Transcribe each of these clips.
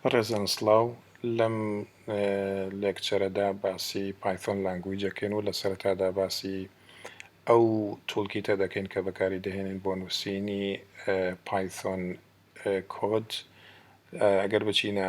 بەڕێزان سڵاو لەم لێکچەرەدا باسی پایثۆن لانگویج دەکەین و لە سەرەتادا باسی ئەو تولکیتە دەکەین کە بەکاری دەهێنین بۆ نووسینی پایثۆن کۆد ئەگەر بچینە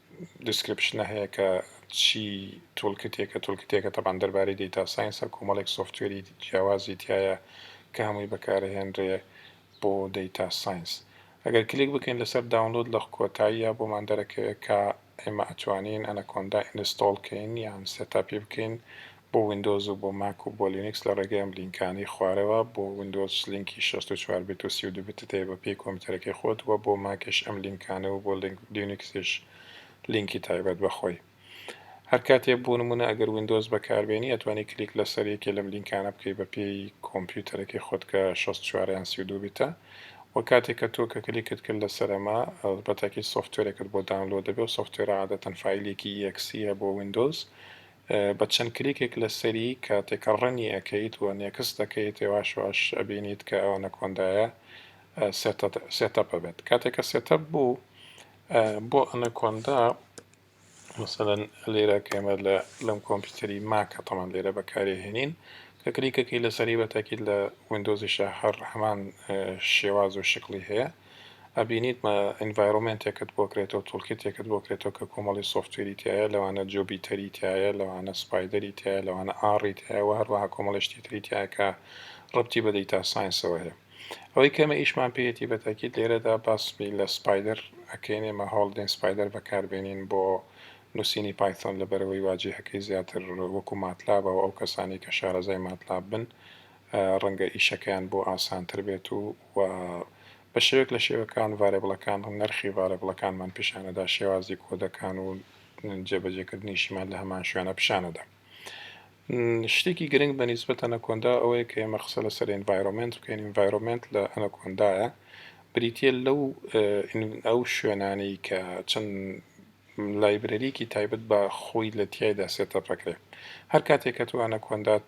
دیسکریپشنە هەیە کە چی تولکتێکە تولکتێکە تەبان دەربارەی دەیتا ساینسە کۆمەڵێک سۆفتوێری جیاوازی تایە کە هەمووی بەکارهێنرێ بۆ دەیتا ساینس ئەگەر کلیک بکەین لەسەر داونلۆد لە کۆتاییە بۆمان دەرەکەوێت کە ئێمە ئەتوانین ئەنەکۆندا ئینستۆڵ کەین یان سێتاپی بکەین بۆ ویندۆز و بۆ ماک و بۆ لینکس لە ڕێگەی ئەم لینکانەی خوارەوە، بۆ ویندۆز لینکی شەست و چوار بیت و سی و دوو بیتت هەیە بە پێی کۆمپیوتەرەکەی خۆت وە بۆ ماکیش ئەم لینکانە و بۆ لینکسیش لینکی تایبەت بە خۆی هەر کاتێ بۆ نمونە ئەگەر ویندۆز بەکار بێنی ئەتوانی کلیک لەسەر یەکێ لەم لینکانە بکەی بە پێی کۆمپیوتەرەکەی خۆت کە شەست و چوار یان سی و دوو بیتە وە کاتێ کە تۆ کە کلیکت کرد لەسەر ئەمە بەتاکی سۆفتوێرێکت بۆ داونلۆد دەبێ و سۆفتوێرە عادەتەن فایلێکی EXE بۆ ویندۆز بە چەند کلیکێک لەسەری کاتێک ڕنی ئەکەیت و نێکست دەکەیت یەواش یەواش ئەبینیت کە ئەوە نەکۆندایە سێتەپ ئەبێت کاتێک کە سێتەپ بوو بۆ ئەنەکۆندا مثلەن لێرە کەمە لە لەم کۆمپیوتەری ماکە تەمان لێرە بەکارێ هێنین کە کلیکەکەی لەسەری بەتاکیت لە وندۆزیشە هەر هەمان شێواز و شکلی هەیە ئەبینیت ئینڤایرۆمێنتێکت بۆ کرێتەوە تولکیتێکت بۆ کرێتەوە کە کۆمەڵی سۆفتوێری تیایە لەوانە جۆبیتەری تیایە لەوانە سپایدەری تیایە لەوانە ئاڕی تیایە وە هەروەها کۆمەڵی شتی تری تیایە کە ڕەبتی بە دەیتا ساینسەوە هەیە ئەوەی کەمە ئیشمان پێیەتی بە تاکید لێرەدا باسمی لە سپایدەر ئەکەین ئێمە هەوڵدەین سپایدەر بەکاربێنین بۆ نووسینی پایتۆن لە بەرەوەی واجهەکەی زیاتر وەکو ماتلابە و ئەو کەسانی کە شارەزای ماتلاب بن ڕەنگە ئیشەکەیان بۆ ئاسانتر بێت و و بە شێوەیەک لە شێوەکان ڤارێبڵەکان و نرخی ڤارێبڵەکانمان پیشانەدا شێوازی کۆدەکان و جێبەجێکردنیشیمان لە هەمان شوێنە پیشانەدا شتێکی گرنگ بە نیسبەت ئەنەکۆندا ئەوەیە کە ئێمە قسە لەسەر ئینڤایرۆمنت بکەین ئینڤایرۆمنت لە ئەنەکۆندایە بریتە لەو ئەو شوێنانەی کە چەند لایبرەریەکی تایبەت بە خۆی لە تیایدا سێتەپ ئەکرێ هەر کاتێ کە تۆ ئەنەکۆندات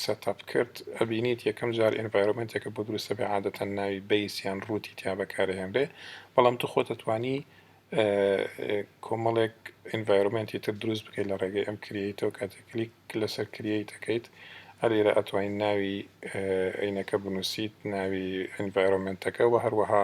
سێتەپ کرد ئەبینیت یەکەم جار ئێنڤایرۆمێنتێکە بۆ دروست ئەبێ عادەتەن ناوی بەیس یان ڕووتی تیا بەکارەهێنرێ بەڵام تو خۆت ئەتوانی کۆمەڵێک ئینڤایرۆمێنتی تر دروست بکەیت لە ڕێگەی ئەم کریەیتەوە کاتێک کلیک لەسەر کریەیت ئەکەیت ئەلێرە ئەتوانین ناوی عینەکە بنووسیت ناوی ئینڤایرۆمێنتەکە و هەروەها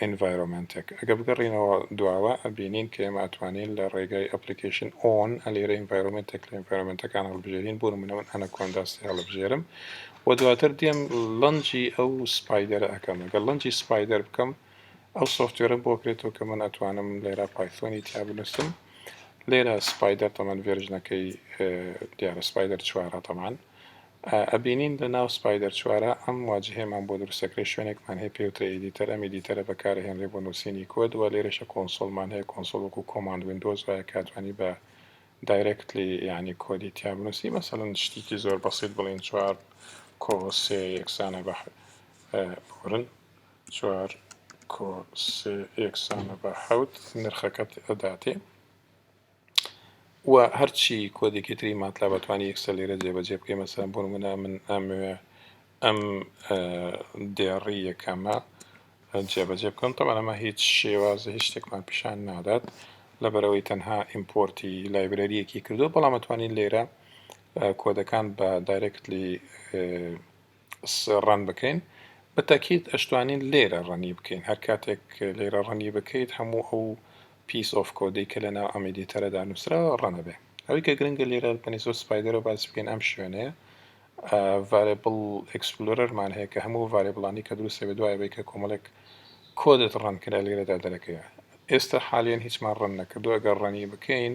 ئینڤایرۆمێنتێک. ئەگەر بگەڕێینەوە دواوە ئەبینین کە ئێمە ئەتوانین لە ڕێگای ئەپلیکەیشن ئۆن ئە لێرە ئینڤایرۆمێنتێک لە ئینڤایرۆمێنتەکان هەڵبژێرین بۆ نموونە من ئەنەکۆندا سێ هەڵبژێرم و دواتر دێم لەنجی ئەو سپایدەرە ئەکەم ئەگەر لەنجی سپایدەر بکەم ئەو سۆفتوێرە بۆ کرێتەوە کە من ئەتوانم لێرە پایثۆنی تیا بنووسم لێرە سپایدەر تەمان ڤێرژنەکەی دیارە سپایدەر چوارە تەمان ئەبینین لە ناو سپایدەر چوارە ئەم واجهەیەمان بۆ دروست ئەکرێت شوێنێکمان هەیە پێوترێ ئێدیتەر ئەم ئێدیتەرە بەکارئەهێنرێت بۆ نوسینی کۆد وە لێرەشە کۆنسۆڵمان هەیە کۆنسۆڵ وەکو کۆماند ویندۆز وایە کە ئەتوانی بە دایرەکتلی یعنی کۆدی تیا بنوسی مەسەلەن شتیکی زۆر بەسیت بڵێن چوار کۆ سێ یەکسانە بە بورن چوار کۆ سێ یەکسانە بە حەوت نرخەکەت ئەداتێ و هەرچی کۆدێکی تری ماتلاب ئەتوانی ئێکسێل لێرە جێبەجێ بکەی مەسەن بۆ نمونە من ئەموێ ئەم دێڕی یەکەمە جێبەجێ بکەم تەبان ئەمە هیچ شێوازە هیچ شتێکمان پیشان نادات لەبەرەوەی تەنها ئیمپۆرتی لایبرەریەکی کردو بەڵام ئەتوانین لێرە کۆدەکان بە دایرەکتلی ڕەن بکەین بە تەکید ئەشتوانین لێرە ڕەنی بکەین هەر کاتێک لێرە ڕەنی بکەیت هەموو ئەو پیس ئۆف کۆدەی کە لە ناو ئەم ئیدیتەرەدا نووسراوە ڕەنەبێ ئەوەی کە گرنگە لێرە پەنیسۆ سپایدەرە باس بکەین ئەم شوێنەیە ڤارێبڵ ئەکسپلۆرەرمان هەیە کە هەموو ڤارێبڵانی کە دروستە بە دوای بێ کە کۆمەڵێک کۆدت ڕەنکرا لێرەدا دەرەکەیە ئێستا حالیان هیچمان ڕەن نەکردو ئەگەر ڕەنی بکەین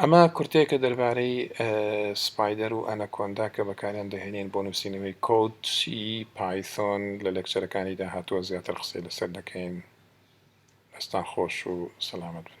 ئەمە کورتەیەکە دەربارەی سپایدەر و ئەنەکۆندا کە بەکاریان دەهێنین بۆ نووسینەوەی کۆدی پایثۆن لە لەکچەرەکانی داهاتووە زیاتر قسەی لەسەر دەکەین ئەستان خۆش و سەلامەت بن